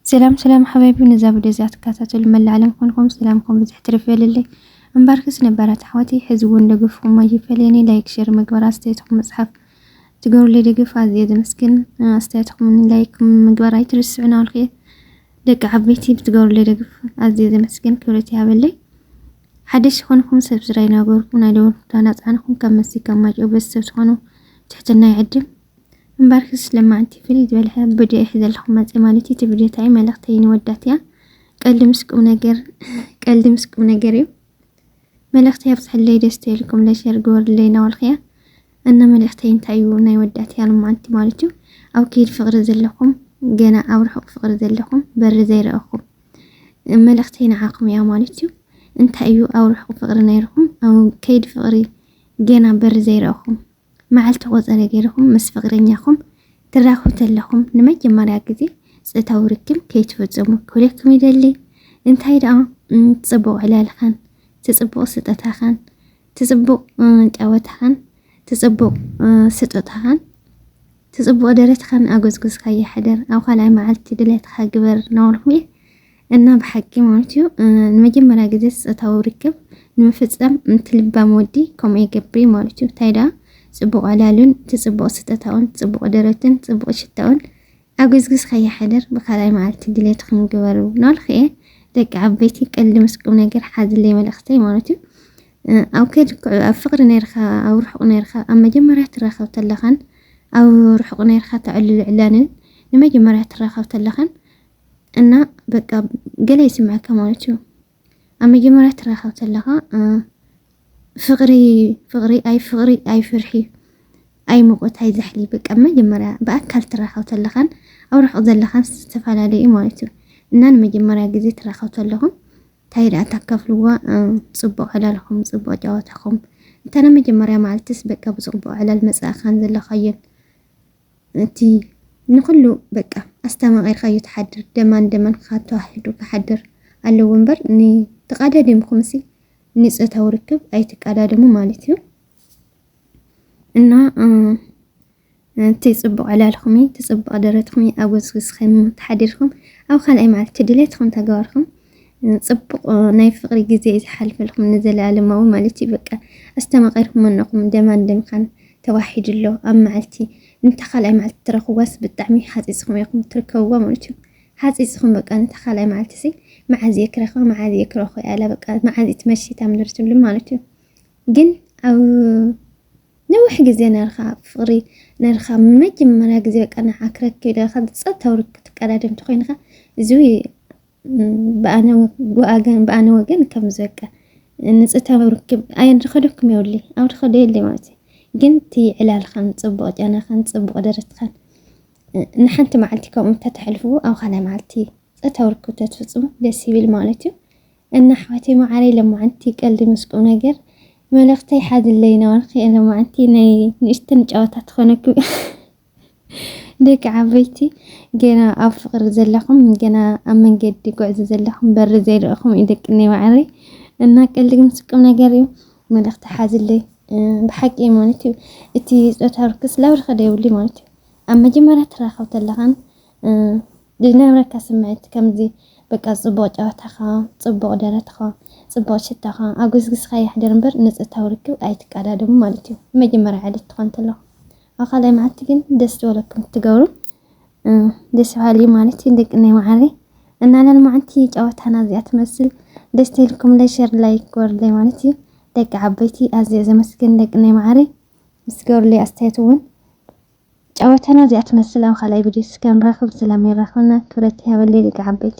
ሰላም ሰላም ሓባይቢ ነዛ ቪድዮ እዚኣ ትከታተሉ መላእ ዓለም ኮንኩም ሰላምኩም ብዝሕ ትርፍ ይበልልይ እምበርክስ ነባራት ኣሕዋተይ ሕዚ እውን ደገፍኩም ኣይፈለየኒ ላይክ ሼር ምግባር ኣስተያየትኩም መፅሓፍ ትገብሩለይ ደገፍ ኣዝየ ዘመስግን ኣስተያየትኩም ላይክ ምግባር ኣይትርስዑ ናበልኩ ደቂ ዓበይቲ ብትገብሩለይ ደገፍ ኣዝየ ዘመስግን ክብረት ይሃበለይ ሓደሽ ዝኾንኩም ሰብስራይ ናገርኩም ናይ ደወል ምልክታ ናፃንኩም ካብ መሲ ካብ ማጭኦ ቤተሰብ ትኾኑ ትሕትና ይዕድም እምበርክስ ለማዕንቲ ፍልይ ዝበለ ቪድዮ እየ ዘለኹም መፅእ ማለት እዩ። እቲ ቪድዮ እንታይ እዩ መልእኽተይ ንወዳት እያ ቀልዲ ምስ ቁም ነገር ቀልዲ ምስ ቁም ነገር እዩ መልእኽተይ ኣብዝሐለይ ደስ ትልኩም ለሸር ግበርለይ እናበልኩ እያ እና መልእኽተይ እንታይ እዩ ናይ ወዳት እያ ለማዕንቲ ማለት እዩ። ኣብ ከይዲ ፍቅሪ ዘለኹም ገና ኣብ ርሑቅ ፍቅሪ ዘለኹም በሪ ዘይረአኹም መልእኽተይ ንዓኹም እያ ማለት እዩ። እንታይ እዩ ኣብ ርሑቅ ፍቅሪ ነይርኹም ኣብ ከይዲ ፍቅሪ ገና በሪ ዘይረአኹም መዓልቲ ቆጸረ ገይርኩም ምስ ፍቕረኛኹም ትራኽቡ ተለኹም ንመጀመርያ ግዜ ጾታዊ ርክብ ከይትፍጽሙ ክብለኩም ይደሊ። እንታይ ደኣ እቲ ጽቡቕ ዕላልኻን፣ እቲ ጽቡቕ ስጠታኻን፣ እቲ ጽቡቕ ጨወታኻን፣ እቲ ጽቡቕ ስጦታኻን፣ እቲ ጽቡቕ ደረትኻን ኣጎዝጉዝካያ ሕደር፣ ኣብ ካልኣይ መዓልቲ ድሌትኻ ግበር እናበልኩም እየ እና ብሓቂ ማለት እዩ ንመጀመርያ ግዜ ፆታዊ ርክብ ንምፍፀም እቲ ልባም ወዲ ከምኡ ይገብር እዩ ማለት እዩ እንታይ ደኣ ፅቡቕ ዕላሉን እቲ ፅቡቕ ስጠታኡን ፅቡቕ ደረትን ፅቡቕ ሽታኡን ኣብ ግዝግዝ ከይሓደር ብካልኣይ መዓልቲ ድሌት ክንግበሩ ናልክ እየ ደቂ ዓበይቲ ቀልዲ ምስ ቁም ነገር ሓዝለይ መልእኽተይ ማለት እዩ ኣብ ከድክ ኣብ ፍቕሪ ነርካ ኣብ ርሑቕ ነርካ ኣብ መጀመርያ ትራኸብ ተለኻን ኣብ ርሑቕ ነርካ ተዕልሉ ዕላንን ንመጀመርያ ትራኸብ ተለኻን እና በቃ ገለ ይስምዐካ ማለት እዩ ኣብ መጀመርያ ትራኸብ ተለኻ ፍቕሪ ፍቕሪ ኣይ ፍቕሪ ኣይ ፍርሒ ኣይ ሙቐት ኣይ ዛሕሊ በቃ መጀመርያ ብኣካል ትራኸብ ተለኻን ኣብ ርሑቕ ዘለኻን ዝተፈላለዩ ማለት እዩ እና ንመጀመርያ ግዜ ትራኸብ ተለኹም እንታይ ደኣ ታካፍልዋ ፅቡቕ ዕላልኹም ፅቡቕ ጨዋታኹም እንተ ናይ መጀመርያ መዓልትስ በቃ ብፅቡቕ ዕላል መፃእኻን ዘለኻዮን እቲ ንኹሉ በቃ ኣስተማቒርካዮ ትሓድር ደማን ደማን ክካተዋሕዱ ክሓድር ኣለዎ እምበር ን ተቓዳዲምኩምሲ ንጾታዊ ርክብ ኣይትቃዳደሙ ማለት እዩ እና እቲ ጽቡቕ ዕላልኹም እቲ ጽቡቕ ደረትኹም ኣጎዝግዝኸም ተሓዲርኩም ኣብ ካልኣይ መዓልቲ ድሌትኹም ተገባርኩም ጽቡቕ ናይ ፍቕሪ ግዜ እዩ ዝሓልፈልኩም ንዘለኣለማዊ ማለት እዩ በቃ ኣስተማቒርኩም ኣነኹም ደማን ደምካን ተዋሒዱ ኣሎ ኣብ መዓልቲ እንተ ካልኣይ መዓልቲ ትረኽብዋስ ብጣዕሚ ሓፂፅኹም ኢኹም ትርከብዋ ማለት እዩ ሓፂፅኹም በቃ እንተ ካልኣይ መዓልቲ ሲ መዓዝ እየ ክረኽባ መዓዝ እየ ክረኽቦ ያላ በቃ መዓዝ እዩ ትመሽት እታ ምድሪ ትብሉ ማለት እዩ ግን ኣብ ነዊሕ ግዜ ነርኻ ፍቕሪ ነርኻ መጀመርያ ግዜ በቃ ንዓ ክረክብ ኢለ ካብ ፀጥታዊ ርክብ ትቀዳደም ተኮይንካ እዚ ብኣነ ወገን ብኣነ ወገን ከም ዘቀ ንጽታዊ ርክብ ኣየድኸደኩም የውሊ ኣውድኸደ የለ ማለት ግን እቲ ዕላልኻን ጽቡቕ ጨናኻን ጽቡቕ ደረትኻን ንሓንቲ መዓልቲ ከምኡ እንተተሕልፍዎ ኣብ ካልኣይ መዓልቲ ጸታዊ ርክብ ተትፍጽሙ ደስ ይብል ማለት እዩ እና ኣሕዋተይ መዓረይ ለማዓንቲ ቀልዲ ምስ ቁም ነገር መልእኽተይ ሓድለይ ነበርክ ለማዓንቲ ናይ ንእሽተን ጨዋታ ትኾነኩም ደቂ ዓበይቲ ገና ኣብ ፍቅሪ ዘለኹም ገና ኣብ መንገዲ ጉዕዞ ዘለኹም በሪ ዘይርኢኹም እዩ ደቂ እኔ ማዕረይ እና ቀልዲ ግን ስቁም ነገር እዩ መልእኽቲ ሓዝለይ ብሓቂ ማለት እዩ እቲ ፆታ ርክስ ላብሪ ከደ ይብሉ ማለት እዩ ኣብ መጀመርያ ትራኸብ ተለኻን ዝነበረካ ስምዒት ከምዚ በቃ ፅቡቅ ጨዋታኻ ፅቡቅ ደረትኻ ፅቡቅ ሽታኻ ኣጎስግስኻ ይሕደር እምበር ንፆታዊ ርክብ ኣይትቀዳደሙ ማለት እዩ መጀመርያ ዕለት ትኾን ተለኹ ኣብ ካልኣይ መዓልቲ ግን ደስ ዝበለኩም ትገብሩ ደስ በሃሊ ማለት እዩ ደቅነይ መዓረይ እና ለልማዓንቲ ጨወታና እዚኣ ትመስል ደስ ተልኩም ለሸር ላይ ጎርለይ ማለት እዩ ደቂ ዓበይቲ ኣዝየ ዘመስግን ደቅነይ መዓረይ ምስ ገሩለይ ኣስተያየት እውን ጨወታና እዚኣ ትመስል ኣብ ካልኣይ ቪድዮ እስከ ንራኽብ ስለሚራኽብና ክብረት ይሃበለይ ደቂ ዓበይቲ